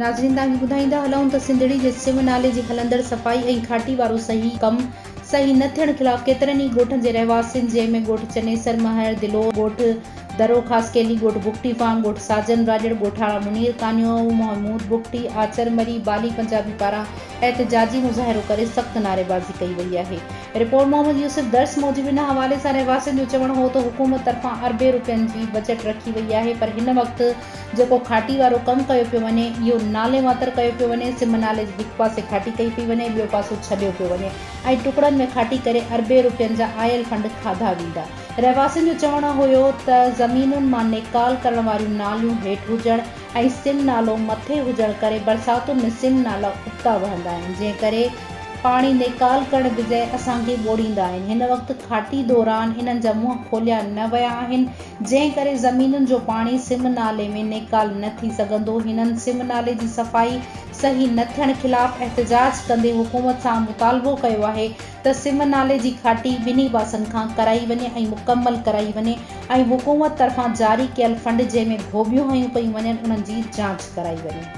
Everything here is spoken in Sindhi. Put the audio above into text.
ناظرين توهان کي ٻڌائيندا هلون ته سنڌڙي جي سم نالي جي هلندڙ صفائي ۽ کاٽي وارو صحيح ڪم صحيح نه ٿيڻ خلاف ڪيترن ئي ڳوٺن جي رهواسين جنهن ۾ ڳوٺ چنيسر مهر، دلور، ڳوٺ درو خاص ڪيلي، ڳوٺ بگٽي فارم، ڳوٺ ساجن راڄڙ، ڳوٺاڻا منير ڪانيو، محمود بگٽي، آچر مري، بالي پنجابي پاران احتجاجي مظاهرو ڪري سخت نعريبازي ڪئي وئي آهي. رپورٽ محمد يوسف درس موجب ان حوالي سان رهواسين جو چوڻ هو ته حڪومت طرفان اربين رپين جي بجيٽ رکي وئي آهي پر هن وقت جيڪو کاٽي وارو ڪم ڪيو پيو وڃي اهو نالي واتر ڪيو پيو وڃي سم نالي جي هڪ پاسي کاٽي ڪئي پئي وڃي ٻيو پاسو ڇڏيو پيو وڃي ۽ ٽڪڙن ۾ کاٽي ڪري اربين رپين جا آيل فنڊ کاڌا ويندا رهواسين جو چوڻ هيو ته زمينن مان نيڪال ڪرڻ واريون ناليون هيٺ هجڻ ۽ سم نالو مٿي هجڻ ڪري برساتن ۾ سم نالا ابتا وهندا آهن جنهن ڪري پاڻي نيڪال ڪرڻ بجاء اسان کي ٻوڙيندا آهن. هن وقت کاٽي دوران انهن جا منهن کوليا نه ويا آهن، جنهن ڪري زمينن جو پاڻي سم نالي ۾ نيڪال نه ٿي سگهندو. هنن سم نالي جي صفائي صحيح نه ٿيڻ خلاف احتجاج ڪندي حڪومت سان مطالبو ڪيو آهي ته سم نالي جي کاٽي ٻنهي پاسن کان ڪرائي وڃي ۽ مڪمل ڪرائي وڃي ۽ حڪومت طرفان جاري ڪيل فنڊ جنهن ۾ ڀوٻيون هنيون پيون وڃن انهن جي جانچ ڪرائي وڃي.